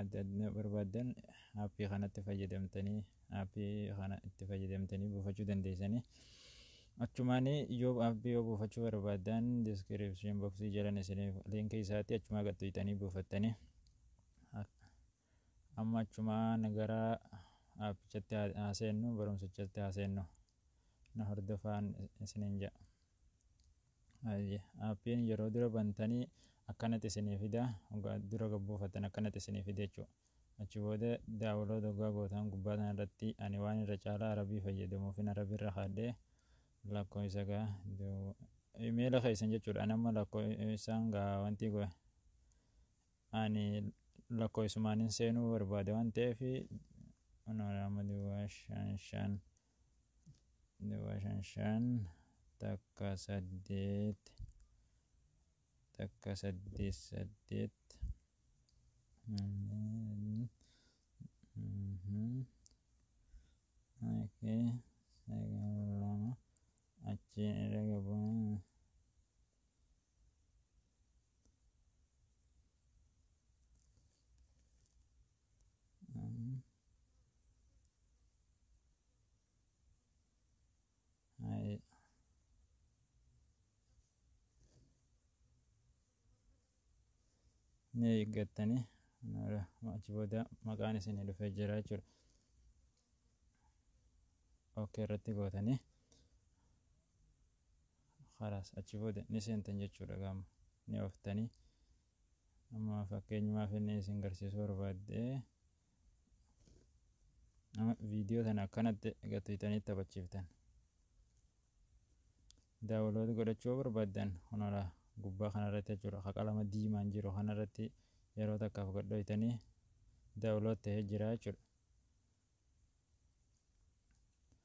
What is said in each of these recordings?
adda addaa barbaaddan aappii kanatti fayyadamtanii aappii kana itti fayyadamtanii buufachuu dandeessanii achumaan yoo aappii yoo buufachuu barbaaddan diskiripshin boksii jalan isiniif liinkii isaatti achumaa gad tuyxanii buufattanii amma achumaan gara aappichatti haa seennu barumsichatti haa seennu. na hordofaan isinin jedha. Ayye appiin yeroo dura bantanii akkanatti isinii fida ogaa dura gabbuufattan akkanatti isinii fida jechuu achi booda daawulood ogaa gootaan gubbaa sana irratti ani waan irra caalaa arabii fayyadamuufin arabii irra kaadhee lakkoo isa gaa imeela keessan jechuudha anamma lakkoo isaan gaa wantii goe Ani lakkoofsumaanin seenuu barbaada waan ta'eef anoo lama duwwaa shan shan duwwaa shan shan takka saddeet takka saddeet saddeet Okay, sagal lama achiin irra gabuun ni eeggattanii achi booda maqaan isin dhufee jira jechuudha. Okkee irratti gootanii Khalaas achi booda ni seentan jechuudha egaa amma ni ooftanii amma fakkeenyumaaf inni isin garsiisuu barbaadde amma viidiyoo sana akkanatti egaa tuyxanii taphachiiftan daawulood godhachuu barbaaddan kunala gubbaa kanarratti jechuudha ka qalama diimaan jiru kanarratti yeroo takkaaf godhoytanii daawulood ta'ee jira jechuudha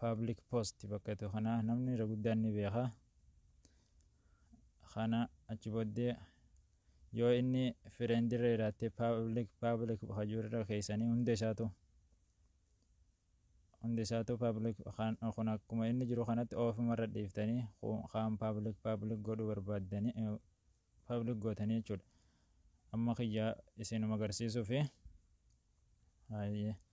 public post bakka jettu kana namni irra guddaan ni beeka kana achi booddee yoo inni friend irra jiraatte public public bakka jiru irra keessanii hunda isaatu hunda isaatu public kan kun akkuma inni jiru kanatti ofuma irra dhiiftanii kaan public public godhuu barbaaddanii public gootanii jechuudha amma kiyyaa isinuma agarsiisuufi. Haayee.